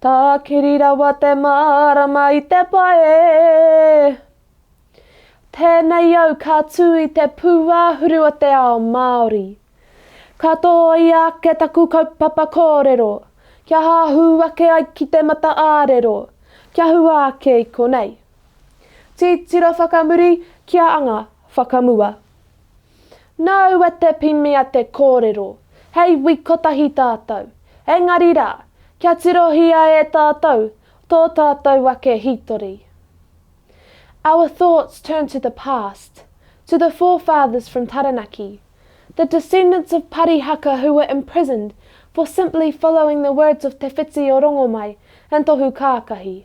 Tākiri rawa te mārama i te pae. Tēnei au ka tū i te pūāhuru o te ao Māori. Ka tōia ake taku kaupapa kōrero, kia hahū ake ai ki te mata ā-rero, kia hua ake i konei. Titiro whakamuri kia anga whakamua. Nāu a Te Pimia te kōrero, hei wik kotahi tātou, engari rā, kia tirohia e tātou tō tātou ake hītori. Our thoughts turn to the past, to the forefathers from Taranaki, the descendants of Parihaka who were imprisoned for simply following the words of Te Whiti o Rongomai and Tohu Kākahi.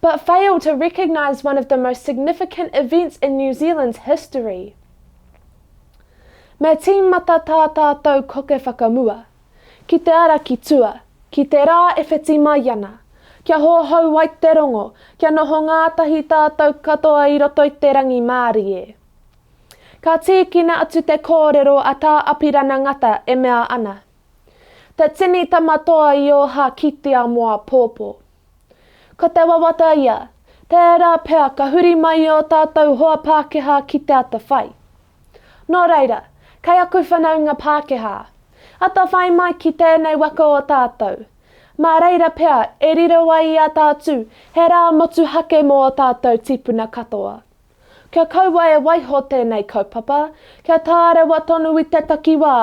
but failed to recognise one of the most significant events in New Zealand's history. Me tīmata tā tātou koke whakamua, ki te ara ki tua, ki te rā e whiti mai ana, kia hohou ai te rongo, kia noho ngātahi tātou katoa i roto i te rangimārie. Ka tīkina atu te kōrero a Tā Apirana Ngata e mea ana. Te tini tama toa i oha ki te amo apopo. Ko te wawata ia, tērā pea ka huri mai i o tātou hoa Pākehā ki te atawhai. Nō reira, kei aku whanaunga Pākehā, atawhai mai ki tēnei waka o tātou, mā reira pea e riro ai i a tātu he rā motuhake mō o tātou tīpuna katoa. Kia kaua e waiho tēnei kaupapa, kia tārewa tonu i te takiwā,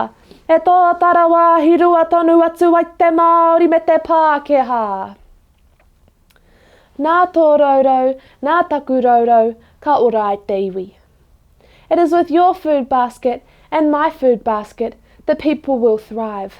e tōta rawāhi rua tonu atu ai te Māori me te Pākehā. Nā tō rourou, nā taku rourou, ka ora ai te iwi. It is with your food basket and my food basket the people will thrive.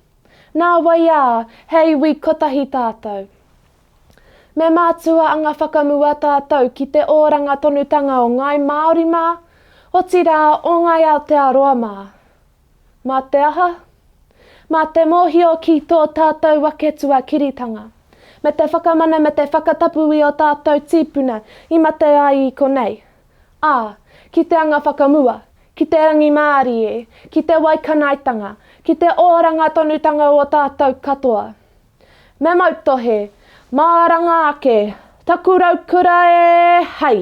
Nā wai ā, he iwi kotahi tātou. Me mātua anga whakamua tātou ki te oranga tonutanga o Ngāi Māori mā, otirā o Ngāi Aotearoa mā. Mā te aha? Mā te mōhio ki tō tātou ake tuakiritanga, me te whakamana me te whakatapu i ō tātou tīpuna i mate ai i konei, Ā, ki te anga whakamua, ki te rangimārie, ki te waikanaetanga, ki te oranga tonutanga o tātou katoa. Me mautohe, māranga ake, taku raukura e, hei!